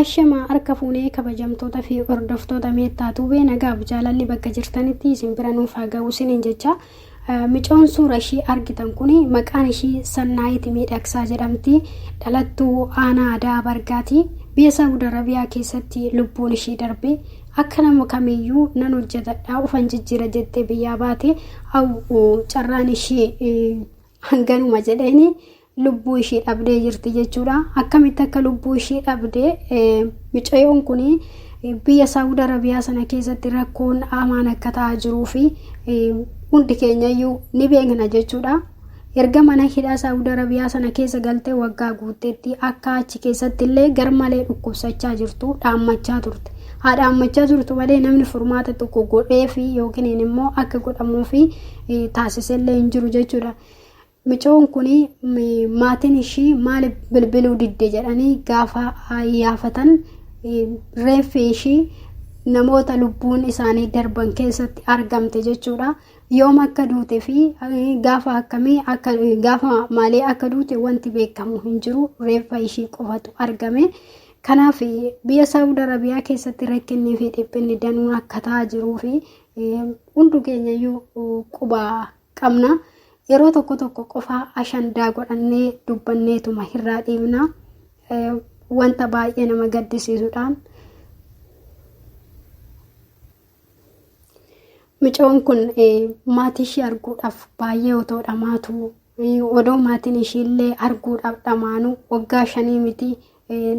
Ashama harka fuunee kabajamtoota fi hordoftoota meettaa tuubee nagaaf jaalalli bakka jirtanitti isin bira nuuf haa ga'u isiniin jecha micoon suura ishii argitan kun maqaan ishii sannaayiti miidhagsaa jedhamti dhalattuu aanaa aadaa bargaati biyya saawud arabiyaa keessatti lubbuun ishii darbe akka nama kamiyyuu nan hojjetadha ufan jijjiira jettee biyyaa baate carraan ishii hanganuma jedheeni lubbuu ishii dhabdee jirti jechuudha. Akkamitti akka lubbuu ishii dhabde micayoon kun biyya Saawud Arabiyaa sana keessatti rakkoon hamaan akka ta'aa jiruu fi hundi keenyayyuu ni beekna jechuudha. Erga mana hidhaa Saawud Arabiyaa sana keessa galtee waggaa guutteetti akka achi keessatti illee garmalee dhukkubsachaa jirtu dhaammachaa turte. Haa dhaammachaa turtu malee namni furmaata tokko godhee fi yookiin immoo akka godhamuu fi taasisellee hin jiru jechuudha. Micoon kun maatiin ishii maaliif bilbiluu didde jedhanii gaafa yaafatan reeffi ishii namoota lubbuun isaanii darban keessatti argamte jechuudha. Yoom akka duute fi gaafa akkamii akka gaafa maalii akka duute wanti beekamu hin jiru reeffa ishii qofatu argame. Kanaaf biyya Saawud Arabiyaa keessatti rakkinnii fi dhiphinni danuun akka ta'aa jiruu fi hundu keenyayyuu quba qabna. Yeroo tokko tokko qofaa ashandaa godhannee dubbanneetuma hirraa dhiibna. Wanta baay'ee nama gaddisiisudha. Micoon kun maatii ishii arguudhaaf baay'ee otoo dhamaatu odoo maatiin ishiillee arguudhaaf dhamaanu waggaa shanii miti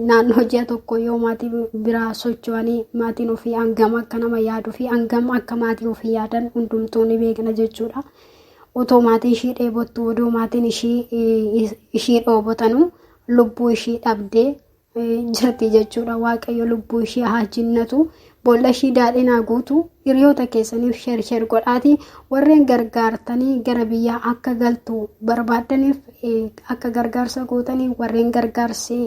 Naannoo ji'a tokko yoo maatii biraa socho'anii maatiin ofii hangam akka nama yaaduu fi hangam akka maatii ofii yaadan hundumtuu ni beekna jechuudha. Otoo maatiin ishii dheebottu odoo maatiin ishii dhoobotanu lubbuu ishii dhabdee jirti jechuudha. Waaqayyo lubbuu ishii haa jinnatu Boollashii daadhinaa guutu hiriyoota keessaniif sheer sheer godhaati warreen gargaartanii gara biyyaa akka galtu barbaaddaniif akka gargaarsa gootanii warreen gargaarsi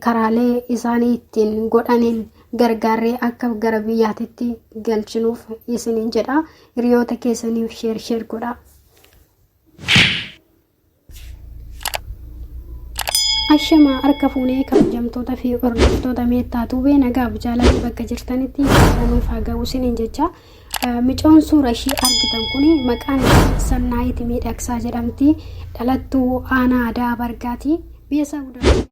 karaalee isaanii ittiin godhaniin gargaarree akka gara biyyaatitti galchinuuf isiniin jedha hiriyoota keessaniif sheer sheer godhaa. Ashamaa harka fuunee kabajamtoota fi hordoftoota meettaa tuubee nagaaf jaalalli bakka jirtanitti nuuf haa ga'u isiniin jecha micoon suura ishii argitan kun maqaan ishii Sannaayit Miidhagsaa jedhamti dhalattuu aanaa Adaa Bargaati. Biyya isaa guddaa